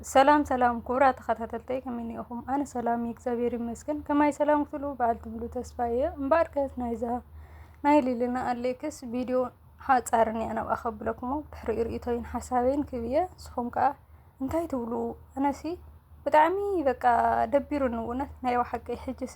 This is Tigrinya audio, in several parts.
ሰላም ሰላም ክቡራ ተኸታተልተይ ከመይ ኒኢኹም? ኣነ ሰላም እየ እግዚኣብሔር ይመስገን። ከማይ ሰላም ክትሉ በዓል ትብሉ ተስፋ እየ። እምበኣር ከስ ናይዛ ናይ ሊልና ኣሌክስ ቪድዮ ሓፃርን እያ ናብኣ ከብለኩሞ ድሕሪኡ ርእቶይን ሓሳበይን ክብ እየ ንስኹም ከዓ እንታይ ትብሉ? ኣነሲ ብጣዕሚ በቃ ደቢሩኒ እውነት ናይ ባሓቂ ሕጅሲ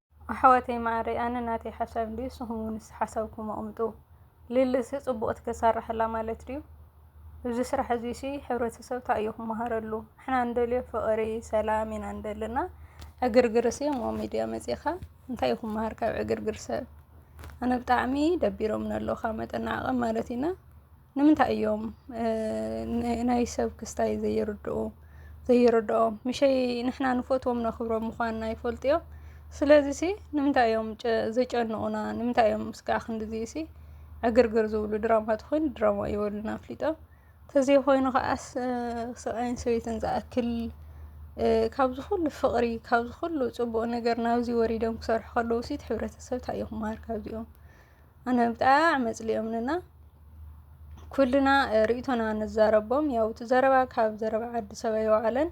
ኣሕዋተይ ማዓረይ ኣነ ናተይ ሓሳብ እንድዩ ንስኩም ውን እስቲ ሓሳብኩም ኣቅምጡ ሊሊ ሲ ፅቡቅ ትክሰርሕ ኣላ ማለት ድዩ እዚ ስራሕ እዙይ ሲ ሕብረተሰብ ታይ እዩ ክማሃረሉ ንሕና እንደልዮ ፍቅሪ ሰላም ኢና ንደሊ እና ዕግርግር ሲ ኣብ ሚድያ መፂእካ እንታይ እዩ ክማሃር ካብ ዕግርግር ሰብ ኣነ ብጣዕሚ ደቢሮምኒ ኣለዉ ካብ መጠን ንዓቀብ ማለት እዩ እና ንምንታይ እዮም ናይ ሰብ ክስታይ ዘይርድኡ ዘይርድኦም ምሸይ ንሕና ንፈትዎም ነኽብሮም ምዃንና ይፈልጡ እዮም ስለዚ ሲ ንምንታይ እዮም ዘጨንቑና ንምንታይ እዮም ስጋዕ ክንዲዚ ሲ ዕግርግር ዝብሉ ድራማ ተኾይኑ ድራማ እዩ በሉና ኣፍሊጦም ተዘይኾይኑ ከዓስ ሰብኣይን ሰበይትን ዝኣክል ካብዚ ኩሉ ፍቕሪ ካብዚ ኩሉ ፅቡቕ ነገር ናብዚ ወሪዶም ክሰርሑ ከለዉ ሲ ሕብረተሰብ እንታይ እዩ ክመሃር ካብዚኦም ኣነ ብጣዕሚ ኣጽሊኦምንና ኩልና ርእቶና ንዛረቦም ያው እቲ ዘረባ ካብ ዘረባ ዓዲ ሰብ ኣይወዓለን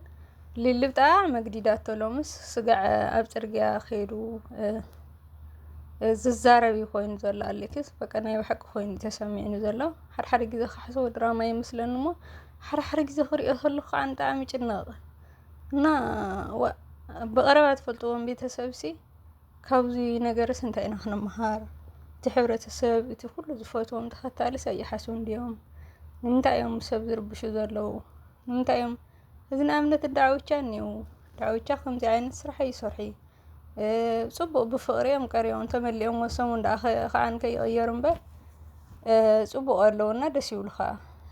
ሊሊ ብጣዕሚ መግዲዳቶ ሎምስ ስጋዕ ኣብ ጽርግያ ከይዱ ዝዛረብ እዩ ኮይኑ ዘሎ ኣሌክስ በቃ ናይ ብሓቂ ኮይኑ ተሰሚዕኒ ዘሎ ሓድሓደ ግዜ ክሓስቦ ድራማ ይመስለኒ እሞ ሓድሓደ ግዜ ክሪኦ ከለኩ ከዓ ብጣዕሚ ይጭነቕ እና ብቐረባ ትፈልጥዎም ቤተሰብሲ ካብዚ ነገርስ እንታይ ኢና ክንመሃር? እቲ ሕብረተሰብ እቲ ኩሉ ዝፈትዎም ተኸታልስ ኣይሓስቡን ድዮም? ንምንታይ እዮም ሰብ ዝርብሹ ዘለዉ? ንምንታይ እዮም እዚ ንኣብነት ዳዕውቻ እኒዉ ዳዕውቻ ከምዚ ዓይነት ስራሕ ኣይሰርሑ ፅቡቕ ብፍቕሪ እዮም ቀሪቦም ተመሊኦም ወሶም ደኣ ከዓን ከይቕየሩ እምበር ፅቡቕ ኣለዉና ደስ ይብሉ ከዓ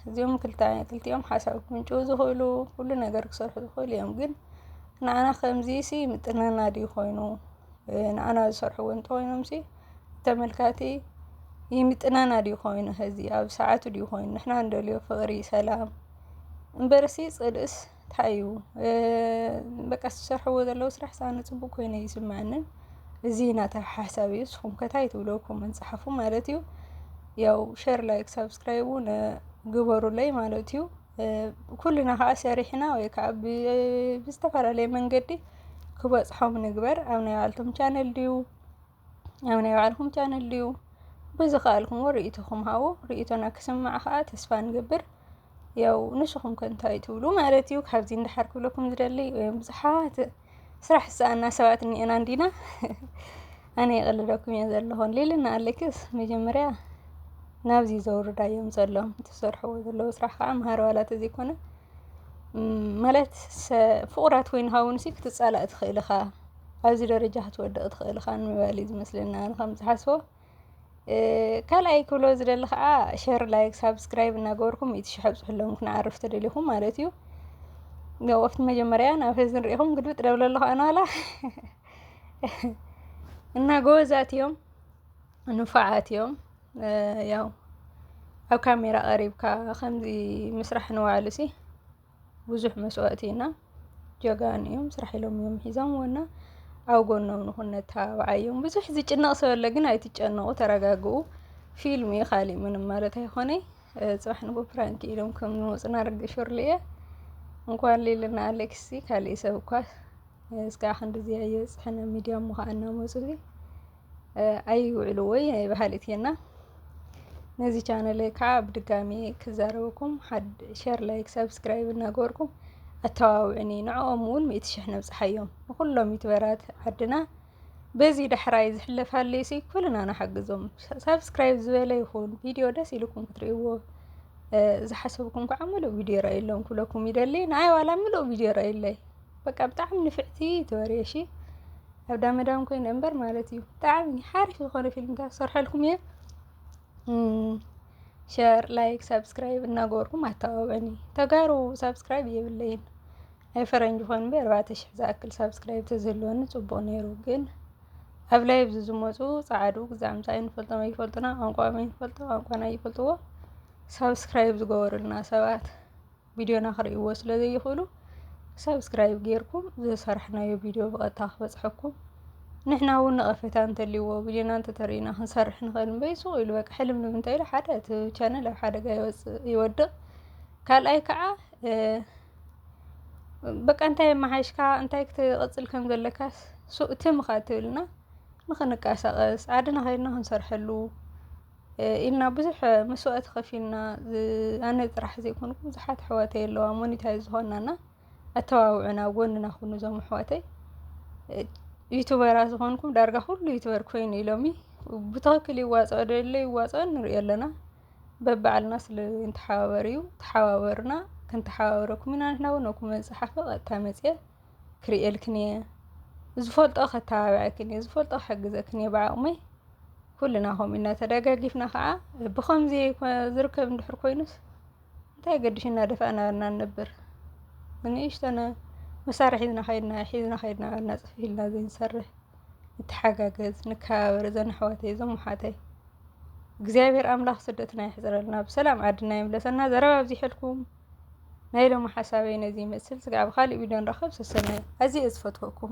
እዚኦም ክልቲኦም ሓሳብ ክምንጭዉ ዝኽእሉ ኩሉ ነገር ክሰርሑ ዝኽእሉ እዮም ግን ንዓና ከምዚሲ ይምጥነና ድዩ ኮይኑ ንዓና ዝሰርሕዎ እንተኾይኖምሲ ተመልካቲ ይምጥነና ድዩ ኮይኑ ሀዚ ኣብ ሰዓቱ ድዩ ኮይኑ ንሕና ንደልዮ ፍቕሪ ሰላም እምበርሲ ፅልእስ ታይ እዩ በቃ ዝሰርሕዎ ዘለዉ ስራሕ ሳነ ፅቡቅ ኮይኑ ይስምዐንን እዚ ናተ ሓሳብ እዩ ንስኹም ከ ታይ ትብሉ ኮመንት ፀሓፉ ማለት እዩ ያው ሸር ላይክ ሳብስክራይብ እውን ግበሩለይ ማለት እዩ ኩልና ከዓ ሰሪሕና ወይ ከዓ ብዝተፈላለየ መንገዲ ክበፅሖም ንግበር። ኣብ ናይ ባዕልቶም ቻነል ድዩ ኣብ ናይ ባዕልኩም ቻነል ድዩ ብዝኸኣልኩምዎ ርእይቶኹም ሃቡ። ርእይቶና ክስማዕ ከዓ ተስፋ ንገብር። ያው ንስኹም ከ እንታይ ትብሉ ማለት እዩ። ካብዚ እንዳሓር ክብለኩም ዝደሊ ብዙሓት ስራሕ ዝሰኣና ሰባት እኒኤና እንዲና ኣነ ይቕልለኩም እየ ዘለኹን ሊልና ኣለክስ መጀመርያ ናብዚ ዘውርዳ እዮም ዘለዎም ትሰርሕዎ ዘለዉ ስራሕ ከዓ መሃሪ ዋላ ተዘይኮነ ማለት ፍቑራት ኮይንካ እውን ሲ ክትፃላእ ትኽእል ኢኻ ኣብዚ ደረጃ ክትወድቕ ትኽእል ኢኻ ንምባል እዩ ዝመስለኒ ኣነ ከም ዝሓስቦ ካልኣይ ክብሎ ዝደሊ ከዓ ሸር ላይክ ሳብስክራይብ እናገበርኩም ሚእቲ ሽሕ ኣብፅሕሎም ክንዓርፍ ተደሊኹም ማለት እዩ ያው ኣብቲ መጀመርያ ናብ ህዚ ንሪኢኹም ግልብጥ ደብለ ኣለኹ ኣነዋላ እና ጎበዛት እዮም ንፋዓት እዮም ያው ኣብ ካሜራ ቀሪብካ ከምዚ ምስራሕ ንባዕሉ ሲ ብዙሕ መስዋእቲ ኢና ጀጋኑ እዮም ስራሕ ኢሎም እዮም ሒዞምዎና ኣብ ጎኖም ንኹን ነተባብዓዮም። ብዙሕ ዝጭነቕ ሰብ ኣለ ግን ኣይትጨነቑ ተረጋግኡ። ፊልም እዩ ካሊእ ምንም ማለት ኣይኾነ። ፅባሕ ንጎ ፕራንክ ኢሎም ከም ዝመፁና ርግሽ ርልየ እንኳን ሌልና ኣሌክሲ ካሊእ ሰብ እኳ እስከ ክንድዚ ያየ ፅሕነ ሚዲያ እሞ ከዓ እናመፁ ኣይውዕሉ ወይ ናይ በሃሊት እየና ነዚ ቻነል ከዓ ብድጋሚ ክዛረበኩም ሸር ላይክ ሰብስክራይብ እናገበርኩም ኣተባብዕኒ ንዕኦም እውን ሚእቲ ሽሕ ነብፅሓዮም ንኩሎም ዩትበራት ዓድና በዚ ዳሕራይ ዝሕለፍ ሃልዩ ሲ ኩልና ንሓግዞም ሰብስክራይብ ዝበለ ይኹን ቪድዮ ደስ ኢልኩም ክትርእይዎ ዝሓሰብኩም ከዓ ምሉእ ቪድዮ ረኣየሎም ክብለኩም ይደሊ ንኣይ ዋላ ምሉእ ቪድዮ ረኣየለይ በቃ ብጣዕሚ ንፍዕቲ ትበርየ እሺ ኣብ ዳመዳም ኮይነ እምበር ማለት እዩ ብጣዕሚ ሓሪፍ ዝኾነ ፊልምታት ሰርሐልኩም እየ ሸር ላይክ ሳብስክራይብ እናገበርኩም ኣተባብዕኒ ተጋሩ ሳብስክራይብ የብለይን ናይ ፈረንጂ ኮን እምበር ኣርባዕተ ሽሕ ዝኣክል ሳብስክራይብ ተዝህልወኒ ፅቡቅ ነይሩ ግን ኣብ ላይ ኣብዚ ዝመፁ ፀዓዱ ግዛምታ ይንፈልጦም ኣይፈልጡና ቋንቋ ይፈልጡ ቋንቋና ይፈልጥዎ ሳብስክራይብ ዝገበሩልና ሰባት ቪድዮና ክርእይዎ ስለ ዘይኽእሉ ሳብስክራይብ ጌርኩም ዝሰርሕናዮ ቪድዮ ብቐጥታ ክበፅሐኩም ንሕና እውን ነቐፌታ እንተልይዎ ቪድዮና እንተተርእዩና ክንሰርሕ ንኽእል እምበይ ሱቕ ኢሉ በቃ ሕልምልም እንታይ ኢሉ ሓደ እቲ ቻነል ኣብ ሓደጋ ይወፅእ ይወድቕ ካልኣይ ከዓ በቃ እንታይ መሓይሽካ እንታይ ክትቕፅል ከም ዘለካስ ሱእ ትምኻ ትብልና ንኽንቀሳቐስ ዓድና ከይድና ክንሰርሐሉ ኢልና ብዙሕ መስዋእቲ ከፊልና ኣነ ጥራሕ ዘይኮንኩ ብዙሓት ኣሕዋተይ ኣለዋ ሞኒታይ ዝኾናና ኣተባብዑና ጎንና ኩኑ ዞም ኣሕዋተይ ዩቱበራ ዝኾንኩም ዳርጋ ኩሉ ዩቱበር ኮይኑ ኢሎሚ ብትኽክል ይዋፅኦ ደለ ይዋፅኦ ንሪኦ ኣለና በባዕልና ስለ ንተሓባበር እዩ ተሓባበሩና ክንተሓባበረኩም ኢና ንሕና እውን ኣብ ኩመን ፀሓፈ ቀጥታ መፅየ ክርእየልክን እየ ዝፈልጦ ከተባብዐክን እየ ዝፈልጦ ክሕግዘክን እየ ብዓቕመይ ኩልና ከምኡ ኢና ተደጋጊፍና ከዓ ብኸምዚ ዝርከብ እንድሕር ኮይኑስ እንታይ ገድሽ እናደፋእና እና ንነብር ንእሽተነ መሳርሒ ሒዝና ከይድና ሒዝና ከይድና እና ፅፊ ኢልና ዘይንሰርሕ ንተሓጋገዝ ንከባበር እዘን ኣሕዋተይ እዞም ኣሓተይ እግዚኣብሔር ኣምላኽ ስደትና የሕፅረልና ብሰላም ዓድና ይምለሰና ዘረባ ኣብዚሐልኩም ናይ ሎሚ ሓሳበይ ነዚ ይመስል ስጋዕ ኣብ ኻሊእ ቪድዮ ንራኸብ ሰሰናዩ ኣዝየ እየ ዝፈትወኩም።